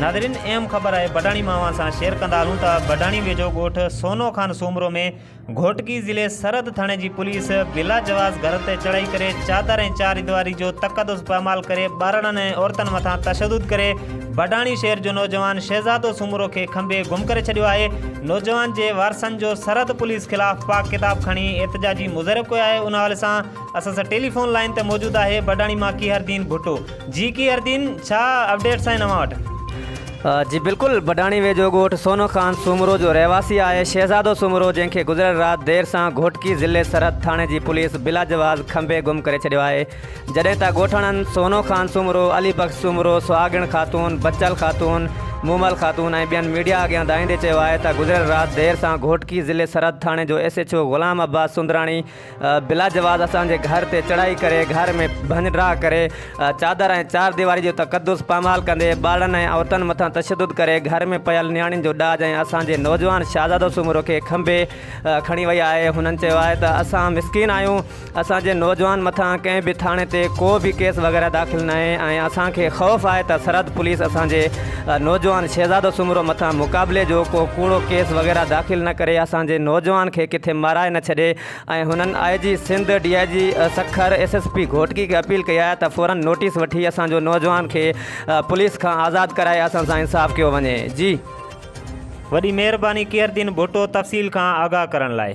ناظرين اهم خبر آهي بڊاڻي مان اوهان سان شيئر ڪندا هلون ته بڊاڻي ويجهو ڳوٺ سونو خان سومرو ۾ گهوٽڪي ضلعي سرحد ٿاڻي جي پوليس بلا جواز گهر تي چڙهائي ڪري چادر ۽ چار ديواري جو تقدس پامال ڪري ٻارڙن ۽ عورتن مٿان تشدد ڪري بڊاڻي شهر جو نوجوان شهزادو سومرو کي کنڀي گم ڪري ڇڏيو آهي، نوجوان جي وارثن جو سرحد پوليس خلاف پاڪ ڪتاب کڻي احتجاجي مظهرو ڪيو آهي ان حوالي سان اسان سان ٽيلي فون لائين تي موجود آهي بڊاڻي مان ڪيهردين ڀٽو جي ڪيهردين ڇا اپڊيٽس آهن اوهان وٽ. جي بلڪل بڊاڻي ويجهو ڳوٺ سونو خان سومرو جو رهواسي آهي شهزادو سومرو جنهن کي گذريل رات دير سان گهوٽڪي ضلعي سرحد ٿاڻي جي پوليس بلاجواز کنڀي گم ڪري ڇڏيو آهي، جڏهن ته ڳوٺاڻن سونو خان سومرو، علي بخش سومرو، سهاڳڻ خاتون، بچل خاتون، مومل خاتون ۽ ٻين ميڊيا اڳيان دانهيندي چيو آهي ته گذريل رات دير سان گهوٽڪي ضلعي سرحد ٿاڻي جو S H O Ghulam Abbas Soondrani بلاجواز اسان جي گهر تي چڙهائي ڪري گهر ۾ ڀڃ ڊاهه ڪري چادر ۽ چار ديواري جو تقدس پامال ڪندي ٻارڙن ۽ عورتن مٿان تشدد ڪري گهر ۾ پيل نياڻين جو ڏاج ۽ اسان جي نوجوان شهزادو سومرو کي کنڀي کڻي وئي آهي هنن چيو آهي ته اسان مسڪين آهيون اسان جي نوجوان مٿان ڪنهن به ٿاڻي تي ڪو به ڪيس وغيره داخل ناهي ۽ اسان کي خوف آهي ته سرحد پوليس اسان جي نوجوان شهزادو سومرو مٿان مقابلي جو ڪو ڪوڙو ڪيس وغيره داخل نه ڪري اسان جي نوجوان کي ڪٿي مارائي نه ڇڏي ۽ هنن I G Sindh D I G Sukkur S S P Ghotki کي اپيل ڪئي آهي ته فورن نوٽيس وٺي اسان جو نوجوان کي پوليس کان آزاد ڪرائي اسان سان انصاف ڪيو وڃي جي. وڏي مهرباني قيردين ڀٽو تفصيل کان آگاهه ڪرڻ لاء.